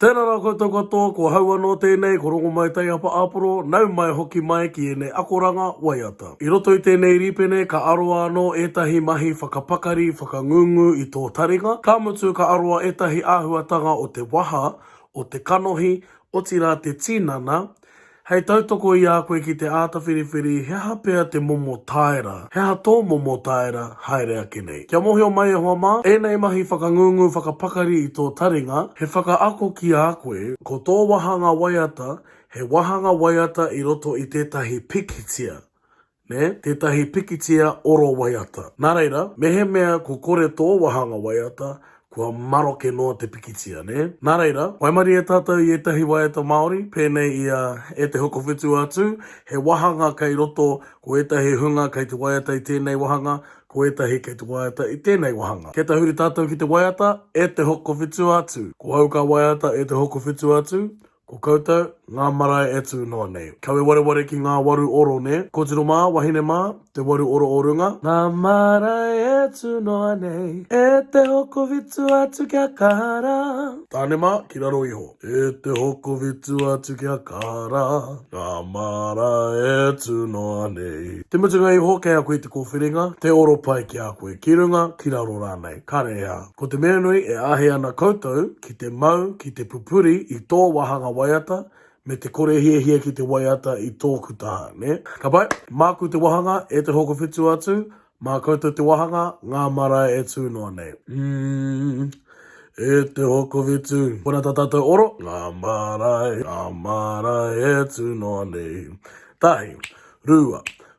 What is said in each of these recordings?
Tēnā rā koutou katoa, ko hau anō tēnei, ko Rongomai Taiapa Aporo, nau mai hoki mai ki ēnei akoranga waiata. I roto i tēnei rīpene ka aroa anō ētahi mahi whakapakari, whakangungu i tō taringa, ka mutu ka aroa ētahi āhuatanga o te waha, o te kanohi, otirā te tinana, Hei tautoko i a koe ki te āta whiriwhiri he aha pea te momo tāera, he aha tō momo tāera haere ake nei. Kia mōhio mai e hoa mā, ēnei mahi whakangungu whakapakari i tō taringa, he whakaako ki a koe, ko tō wāhanga waiata, he wāhanga waiata i roto i tētahi pikitia, nē, tētahi pikitia oro waiata. Nā reira, mehemea ko kore tō wāhanga waiata, kua maroke noa te pikitia, nē? Nā reira, waimarie tātou i ētahi waiata Māori, pēnei i a E te Hokowhitu a Tū, he wāhanga kei roto, ko ētahi hunga kei te waiata i tēnei wāhanga, ko ētahi kei te waiata i tēnei wāhanga. Kia tahuri tātou ki te waiata E te Hokowhitu a Tū. Ko au ka waiata E te Hokowhitu a Tū, Ko koutou, ngā marae e tū noa nei. Kawe wareware ki ngā waru oro, nē? Kōtiro mā, wahine mā, te waru oro o runga. Ngā marae e tū noa nei. E te hokovitu atu kia kara. Tāne mā, ki raro iho. E te hokovitu atu kia kara. Ngā marae e tū noa nei. Te mutunga iho, kei a koe te kōwhiringa, te oro pai ki a koe, ki runga, ki raro rānei. Kare ā. Ko te mea nui, e āhei ana koutou. ki te mau, ki te pupuri i tō wāhanga waiata, me te kore hiahia ki te waiata i tōku taha, nē? Ka pai, māku te wāhanga, e te hoko whitu atu, mā koutou te wāhanga, ngā marae e tū noa nei. Umm, e te hoko whitu, kona tā tātou oro, ngā marae, ngā marae e tū noa nei. Tahi, rua,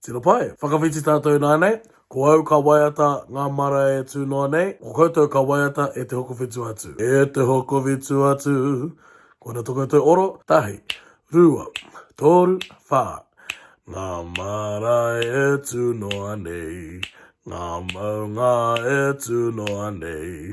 Tino pai. Whakawhiti tātou nānei, ko au ka waiata ngā marae e tū noa nei, ko koutou ka waiata e te hokowhitu atu. E te hokowhitu atu. Ko ēnā tō koutou oro, tahi, rua, tōru, whā. Ngā marae e tū noa nei, ngā maunga e tū noa nei,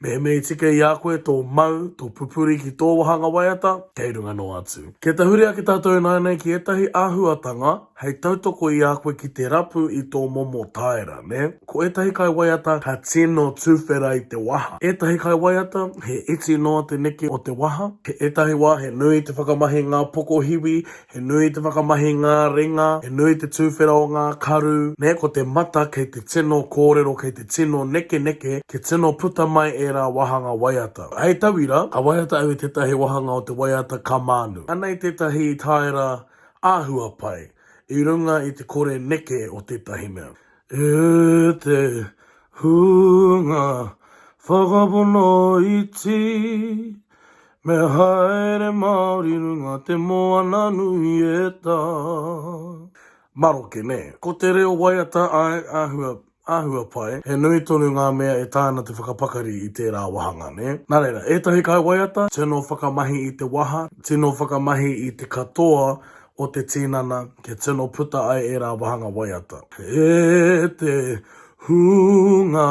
Mehemei tika i a koe tō mau, tō pupuri ki tō wāhanga waiata, kei runga noa atu. Kia tahuri ake tātou ināianei ki ētahi āhuatanga hei tautoko i a koe ki te rapu i tō momo tāera, nē? Ko ētahi kaiwaiata ka tino tuwhera i te waha. Ētahi kaiwaiata, he iti noa te neke o te waha. He ētahi wā he nui te whakamahi i ngā pokohiwi He nui te whakamahi i ngā ringa, he nui te tūwhera o ngā karu, nē, ko te mata kei te tino kōrero, kei te tino nekeneke, kia tino puta mai ērā wāhanga waiata. Hei tauira, ka waiata au i tētahi wāhanga o te waiata ka mānu. Anei tētahi tāera āhua pai i runga i te kore neke o tētahi mea. E te hunga whakapono iti, Me haere Māori runga te moana nui e tā. Maroke, nē. Ko te reo waiata āe, āhua, āhua pai, he nui tonu ngā mea e taea ana te whakapakari i tērā wāhanga, nē. Nā reira, ētahi kaiwaiata, tino whakamahi i te waha, tino whakamahi i te katoa o te tīnana, kia tino puta ai ērā wāhanga waiata. E te hunga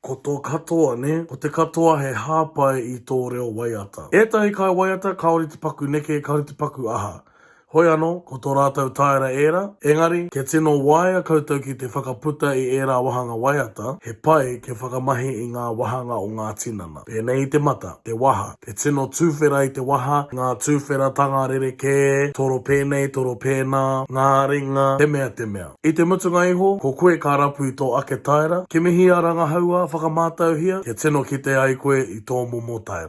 Ko tō katoa, nē? Ko te katoa he hāpai i tō reo waiata. Ētahi kai waiata kāore te paku neke, kāore te paku aha. Hoi anō, ko tō rātou tāera ērā. Engari, kia tino waea koutou ki te whakaputa i ērā wāhanga waiata, he pai kia whakamahi i ngā wāhanga o ngā tinana. Pēnei i te mata, te waha, te tino tuwhera i te waha, ngā tuwheratanga rerekē, toro pēnei, toro pēnā, ngā ringa, te mea te mea. I te mutunga iho, ko koe ka rapu i tō ake taera, kimihia, rangahaua, whakamātauhia, kia tino kite ai koe i tō momo taera.